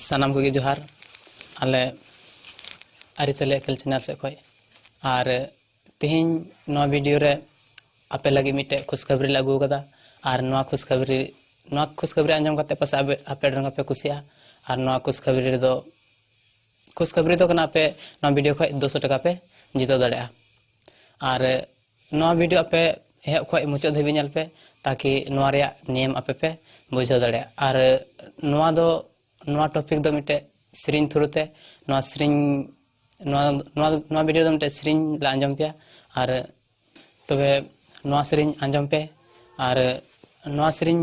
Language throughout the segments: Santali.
ᱥᱟᱱᱟᱢ ᱠᱚᱜᱮ ᱡᱚᱦᱟᱨ ᱟᱞᱮ ᱟᱹᱨᱤᱪᱟᱹᱞᱤ ᱮᱠᱮᱞ ᱪᱮᱱᱮᱞ ᱥᱮᱫ ᱠᱷᱚᱱ ᱟᱨ ᱛᱮᱦᱮᱧ ᱱᱚᱣᱟ ᱵᱷᱤᱰᱤᱭᱳ ᱨᱮ ᱟᱯᱮ ᱞᱟᱹᱜᱤᱫ ᱢᱤᱫᱴᱮᱡ ᱠᱷᱩᱥᱠᱷᱟᱵᱨᱤ ᱞᱮ ᱟᱹᱜᱩ ᱟᱠᱟᱫᱟ ᱟᱨ ᱱᱚᱣᱟ ᱠᱷᱩᱥᱠᱷᱟᱵᱨᱤ ᱱᱚᱣᱟ ᱠᱷᱩᱥᱠᱷᱟᱵᱨᱤ ᱟᱸᱡᱚᱢ ᱠᱟᱛᱮ ᱯᱟᱥᱮ ᱟᱯᱮ ᱟᱯᱮ ᱰᱚᱝ ᱯᱮ ᱠᱩᱥᱤᱜᱼᱟ ᱟᱨ ᱱᱚᱣᱟ ᱠᱷᱩᱥᱠᱷᱟᱵᱨᱤ ᱨᱮᱫᱚ ᱠᱷᱩᱥᱠᱷᱟᱵᱨᱤ ᱫᱚ ᱠᱟᱱᱟ ᱟᱯᱮ ᱱᱚᱣᱟ ᱵᱷᱤᱰᱤᱭᱳ ᱠᱷᱚᱡ ᱫᱩᱥᱚ ᱴᱟᱠᱟ ᱯᱮ ᱡᱤᱛᱟᱹᱣ ᱫᱟᱲᱮᱭᱟᱜᱼᱟ ᱟᱨ ᱱᱚᱣᱟ ᱵᱷᱤᱰᱤᱭᱳ ᱟᱯᱮ ᱮᱦᱚᱵ ᱠᱷᱚᱱ ᱢᱩᱪᱟᱹᱫ ᱫᱷᱟᱹᱵᱤᱡ ᱧᱮᱞ ᱯᱮ ᱛᱟᱠᱤ ᱱᱚᱣᱟ ᱨᱮᱭᱟᱜ ᱱᱮᱢ ᱟᱯᱮ ᱯᱮ ᱵᱩᱡᱷᱟᱹᱣ ᱫᱟᱲᱮᱭᱟᱜᱼᱟ ᱟᱨ ᱱᱚᱣᱟ ᱫᱚ ᱱᱚᱣᱟ ᱴᱚᱯᱤᱠ ᱫᱚ ᱢᱤᱫᱴᱮᱡ ᱥᱮᱨᱮᱧ ᱛᱷᱨᱩ ᱛᱮ ᱱᱚᱣᱟ ᱥᱮᱨᱮᱧ ᱱᱚᱣᱟ ᱱᱚᱣᱟ ᱱᱚᱣᱟ ᱵᱷᱤᱰᱤᱭᱳ ᱫᱚ ᱢᱤᱫᱴᱮᱡ ᱥᱮᱨᱮᱧ ᱞᱮ ᱟᱸᱡᱚᱢ ᱯᱮᱭᱟ ᱟᱨ ᱛᱚᱵᱮ ᱱᱚᱣᱟ ᱥᱮᱨᱮᱧ ᱟᱸᱡᱚᱢ ᱯᱮ ᱟᱨ ᱱᱚᱣᱟ ᱥᱮᱨᱮᱧ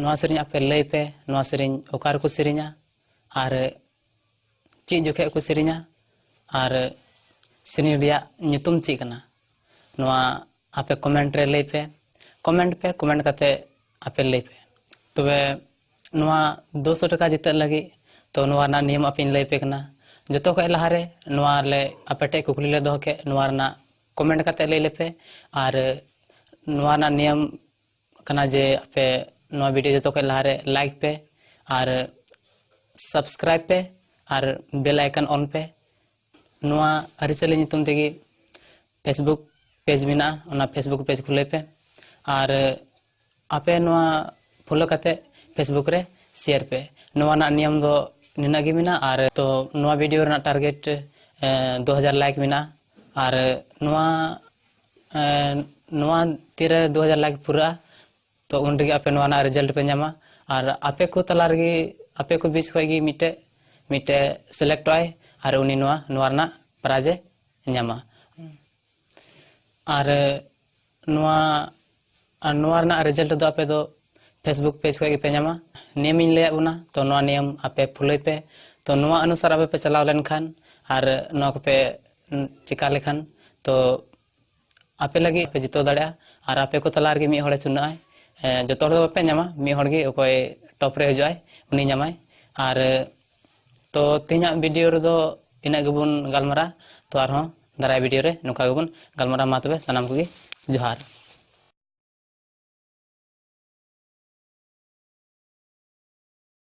ᱱᱚᱣᱟ ᱥᱮᱨᱮᱧ ᱟᱯᱮ ᱞᱟᱹᱭ ᱯᱮ ᱱᱚᱣᱟ ᱥᱮᱨᱮᱧ ᱚᱠᱟ ᱨᱮᱠᱚ ᱥᱮᱨᱮᱧᱟ ᱟᱨ ᱪᱮᱫ ᱡᱚᱠᱷᱮᱡ ᱠᱚ ᱥᱮᱨᱮᱧᱟ ᱟᱨ ᱥᱮᱨᱮᱧ ᱨᱮᱭᱟᱜ ᱧᱩᱛᱩᱢ ᱪᱮᱫ ᱠᱟᱱᱟ ᱱᱚᱣᱟ ᱟᱯᱮ ᱠᱚᱢᱮᱱᱴ ᱨᱮ ᱞᱟᱹᱭ ᱯᱮ ᱠᱚᱢᱮᱱᱴ ᱯᱮ ᱠᱚᱢᱮᱱᱴ ᱠᱟᱛᱮ ᱟᱯᱮ ᱞᱟᱹᱭ ᱯᱮ ᱛᱚᱵᱮ ᱱᱚᱣᱟ ᱫᱩ ᱥᱚ ᱴᱟᱠᱟ ᱡᱤᱛᱟᱹᱜ ᱞᱟᱹᱜᱤᱫ ᱛᱚ ᱱᱚᱣᱟ ᱨᱮᱱᱟᱜ ᱱᱤᱭᱚᱢ ᱟᱯᱮᱧ ᱞᱟᱹᱭ ᱯᱮ ᱠᱟᱱᱟ ᱡᱚᱛᱚ ᱠᱷᱚᱡ ᱞᱟᱦᱟᱨᱮ ᱱᱚᱣᱟ ᱞᱮ ᱟᱯᱮ ᱴᱷᱮᱡ ᱠᱩᱠᱞᱤ ᱞᱮ ᱫᱚᱦᱚ ᱠᱮᱫ ᱱᱚᱣᱟ ᱨᱮᱱᱟᱜ ᱠᱚᱢᱮᱱᱴ ᱠᱟᱛᱮ ᱞᱟᱹᱭ ᱞᱮᱯᱮ ᱟᱨ ᱱᱚᱣᱟ ᱨᱮᱱᱟᱜ ᱱᱤᱭᱚᱢ ᱠᱟᱱᱟ ᱡᱮ ᱟᱯᱮ ᱱᱚᱣᱟ ᱵᱷᱤᱰᱤᱭᱳ ᱡᱚᱛᱚ ᱠᱷᱚᱱ ᱞᱟᱦᱟᱨᱮ ᱞᱟᱭᱤᱠ ᱯᱮ ᱟᱨ ᱥᱟᱵᱥᱠᱨᱟᱭᱤᱵ ᱯᱮ ᱟᱨ ᱵᱮᱞ ᱟᱭᱠᱚᱱ ᱚᱱ ᱯᱮ ᱱᱚᱣᱟ ᱟᱹᱨᱤᱪᱟᱹᱞᱤ ᱧᱩᱛᱩᱢ ᱛᱮᱜᱮ ᱯᱷᱮᱥᱵᱩᱠ ᱯᱮᱡᱽ ᱢᱮᱱᱟᱜᱼᱟ ᱚᱱᱟ ᱯᱷᱮᱥᱵᱩᱠ ᱯᱮᱡᱽ ᱠᱷᱩᱞᱟᱹᱭ ᱯᱮ ᱟᱨ ᱟᱯᱮ ᱱᱚᱣᱟ ᱯᱷᱳᱞᱳ ᱠᱟᱛᱮ ᱯᱷᱮᱥᱵᱩᱠ ᱨᱮ ᱥᱮᱭᱟᱨ ᱯᱮ ᱱᱚᱣᱟ ᱨᱮᱱᱟᱜ ᱱᱤᱭᱚᱢ ᱫᱚ ᱱᱤᱱᱟᱹᱜ ᱜᱮ ᱢᱮᱱᱟᱜᱼᱟ ᱟᱨ ᱛᱚ ᱱᱚᱣᱟ ᱵᱷᱤᱰᱤᱭᱳ ᱨᱮᱱᱟᱜ ᱴᱟᱨᱜᱮᱴ ᱫᱩ ᱦᱟᱡᱟᱨ ᱞᱟᱭᱤᱠ ᱢᱮᱱᱟᱜᱼᱟ ᱟᱨ ᱱᱚᱣᱟ ᱱᱚᱣᱟ ᱛᱤᱨᱮ ᱫᱩ ᱦᱟᱡᱟᱨ ᱞᱟᱭᱤᱠ ᱯᱩᱨᱟᱹᱜᱼᱟ ᱛᱚ ᱩᱱ ᱨᱮᱜᱮ ᱟᱯᱮ ᱱᱚᱣᱟ ᱨᱮᱱᱟᱜ ᱨᱮᱡᱟᱞᱴ ᱯᱮ ᱧᱟᱢᱟ ᱟᱨ ᱟᱯᱮ ᱠᱚ ᱛᱟᱞᱟ ᱨᱮᱜᱮ ᱟᱯᱮ ᱠᱚ ᱵᱤᱪ ᱠᱷᱚᱱ ᱜᱮ ᱢᱤᱫᱴᱮᱡ ᱢᱤᱫᱴᱮᱡ ᱥᱤᱞᱮᱠᱴᱚᱜ ᱟᱭ ᱟᱨ ᱩᱱᱤ ᱱᱚᱣᱟ ᱱᱚᱣᱟ ᱨᱮᱱᱟᱜ ᱯᱨᱟᱭᱤᱡᱽ ᱮ ᱧᱟᱢᱟ ᱟᱨ ᱱᱚᱣᱟ ᱟᱨ ᱱᱚᱣᱟ ᱨᱮᱱᱟᱜ ᱨᱮᱡᱟᱞᱴ ᱫᱚ ᱟᱯᱮ ᱫᱚ ᱯᱷᱮᱥᱵᱩᱠ ᱯᱮᱡᱽ ᱠᱷᱚᱱ ᱜᱮᱯᱮ ᱧᱟᱢᱟ ᱱᱤᱭᱚᱢᱤᱧ ᱞᱟᱹᱭᱟᱫ ᱵᱚᱱᱟ ᱛᱚ ᱱᱚᱣᱟ ᱱᱤᱭᱚᱢ ᱟᱯᱮ ᱯᱷᱩᱞᱟᱹᱭ ᱯᱮ ᱛᱚ ᱱᱚᱣᱟ ᱚᱱᱩᱥᱟᱨ ᱟᱯᱮ ᱯᱮ ᱪᱟᱞᱟᱣ ᱞᱮᱱᱠᱷᱟᱱ ᱟᱨ ᱱᱚᱣᱟ ᱠᱚᱯᱮ ᱪᱮᱠᱟ ᱞᱮᱠᱷᱟᱱ ᱛᱚ ᱟᱯᱮ ᱞᱟᱹᱜᱤᱫ ᱯᱮ ᱡᱤᱛᱟᱹᱣ ᱫᱟᱲᱮᱭᱟᱜᱼᱟ ᱟᱨ ᱟᱯᱮ ᱠᱚ ᱛᱟᱞᱟ ᱨᱮᱜᱮ ᱢᱤᱫ ᱦᱚᱲᱮ ᱪᱩᱱᱟᱹᱜᱼᱟᱭ ᱡᱚᱛᱚ ᱦᱚᱲ ᱫᱚ ᱵᱟᱯᱮ ᱧᱟᱢᱟ ᱢᱤᱫ ᱦᱚᱲ ᱜᱮ ᱚᱠᱚᱭ ᱴᱚᱯ ᱨᱮ ᱦᱤᱡᱩᱜᱼᱟᱭ ᱩᱱᱤ ᱧᱟᱢᱟᱭ ᱟᱨ ᱛᱚ ᱛᱮᱦᱮᱧᱟᱜ ᱵᱷᱤᱰᱤᱭᱳ ᱨᱮᱫᱚ ᱤᱱᱟᱹᱜ ᱜᱮᱵᱚᱱ ᱜᱟᱞᱢᱟᱨᱟᱜᱼᱟ ᱛᱚ ᱟᱨᱦᱚᱸ ᱫᱟᱨᱟᱭ ᱵᱷᱤᱰᱤᱭᱳ ᱨᱮ ᱱᱚᱝᱠᱟ ᱜᱮᱵᱚᱱ ᱜᱟᱞᱢᱟᱨᱟᱣ ᱢᱟ ᱛᱚᱵᱮ ᱥᱟᱱᱟᱢ ᱠᱚᱜᱮ ᱡᱚᱦᱟᱨ